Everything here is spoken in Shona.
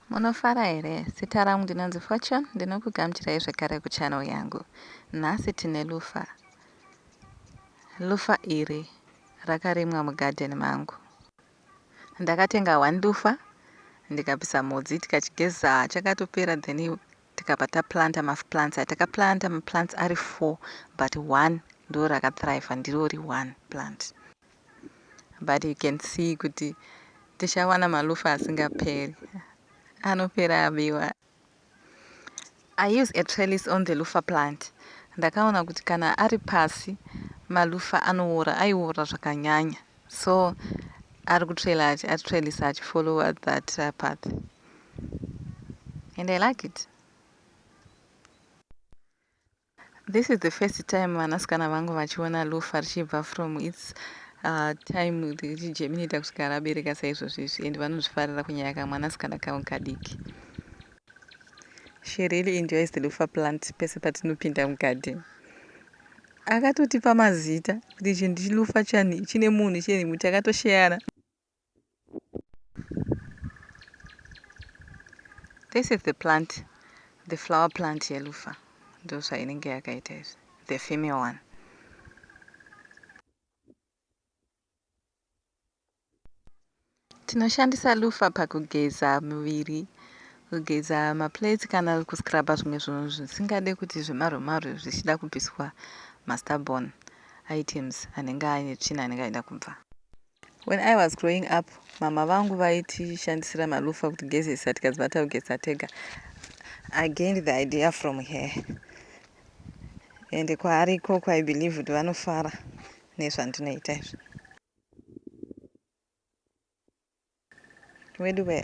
Munofara here? Zita rangu ndinonzi Fortune, ndinokugamuchirai zvekare kuchannel yangu. Nhasi tine lufa. Lufa iri rakarimwa mugarden mangu. Ndakatenga one lufa ndikabvisa mhodzi tikachigeza chakatopera then tikabva taplanta maplants aya takaplanta maplants ari four but one ndorakathriver ndirori one plant. But you can see kuti tichawana malufa asingaperi. Anopera abiwa. I use a trellis on the lufa plant. Ndakaona kuti kana ari pasi malufa anowora aiwora zvakanyanya so ari kutrela achitrelisa achifollowa that uh, path and i like it This is the first time vanasikana vangu vachiona lufa richibva from its uh, time richijeminita kusvika rabereka saizvozvo izvi and vanozvifarira kunyaya kamwanasikana kavo kadiki she really enjoys the lufa plant pese patinopinda mugarden akatotipa mazita kuti ichi ndichilufa chani chine munhu chine muti akatosheyana This is the plant, the flower plant yelufa. Ndosva inenge yakaita izvi. The female one. Tinoshandisa lufa pakugeza muviri, kugeza maplates kana kuscrubba zvimwe zvinhu zvisingade kuti zvemarwemaro zvichida kubviswa mastubborn items anenge aine tsvina anenge aida kubva. When I was growing up mhamha vangu vaitishandisira malufa kuti gezesa tikadzi vataugeza tega. I gained the idea from her ende kwaari ikoko I believe kuti vanofara nezvandinoita izvi. Weduwee.